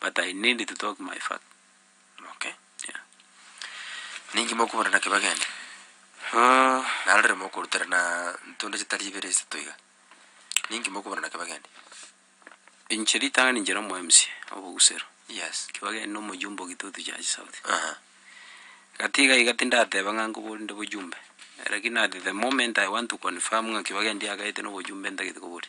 but I need to talk my fact okay yeah ninki mokobora naki bagende uh narorire mokoruterana ntonde chitari ibere isato iga ninki mokobora naki bagende Inche ritang'ani inche nomo MC obogusero, yes ki bagende na omojumbe o Gitutu Church South, aha gati iga iga tindateba ng'a nkobori nde bojumbe, rakini at the moment I want to confirm ng'a ki bagende yagaete na obojumbe ntagete kobori.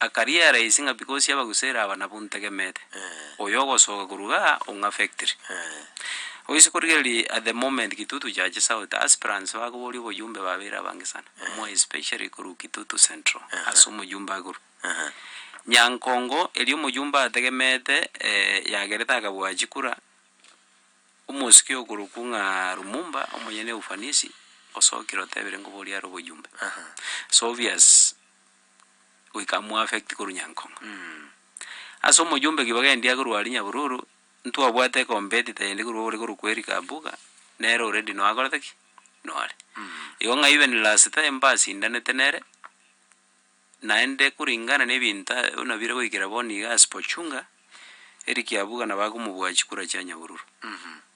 Akariera isi ng'a because y'abagusera aba nabo ntegemete. Oyo ogosoka korwa igaa ong'a factory. Oise korigereria at the moment Kitutu Church South aspirants bakoboria oboyumbe babeire abange sana. More especially korwa Kitutu Central ase omoyumbe agurwe. Nyankongo erio omoyumbe ategemete yagerete akabua chikura, omosike okorokwa ng'a Lumumba omonyene ufanisi osokire otebire nkoboria are oboyumbe. It's obvious. goika amu affect korwa nyankong'o. Ase omojumbe kibaga endia korwa aria nyabururu, ntwabwate competitor ende korwa ore korwa kweri kabuga, nere already noe akorete ki? Noare. Igo ng'a even last time mbasindanete nere, naende kuringana na ebinto a- buna bire goikera bono iga as pochunga, eri kiabuga nabo akomobua chikura chia nyabururu.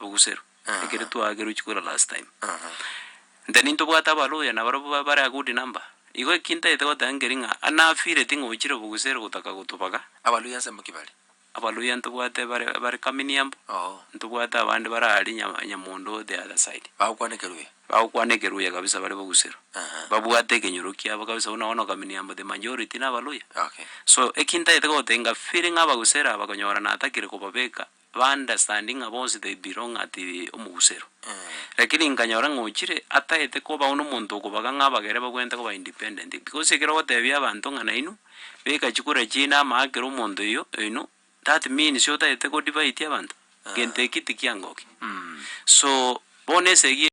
ogoserwa, Aha. ekero twagerochi kora last time. Aha. Nte nintobwate abaluya nabarobwo ba- bare a good number, igo eki ntaete goteba nkeri ng'a anafeeli ting'o ochire oboguseri gotaka gotobaga, Abaluya nse mboki bare. abaluya ntobwate bare bare kamini yambo, Oo. ntobwate abande bare aria Nya- nyamondo the other side, Bagokwana ekeruya. bagokwana ekeruya kabisa bare boguseru, Aha. babwate ekenyoro kiabo kabisa buna bono kamini yambo the majority na abaluya. Okay. So eki ntaete goteba inga feeling abagusera aba konyora natakire kobabeka. ba understanding ng'a bonsi they belong at omogusero. Lakini nkanyora ng'a ochire ataete kobago nomonto okobaga ng'a abagere bagwenerete koba independent. Because ekero ogotebia abanto ng'a nainwe beka chikura chiaino ama akere omonto oyo oino that means otaete ko divide abanto, gento eki tikiangokia. So bono esegi.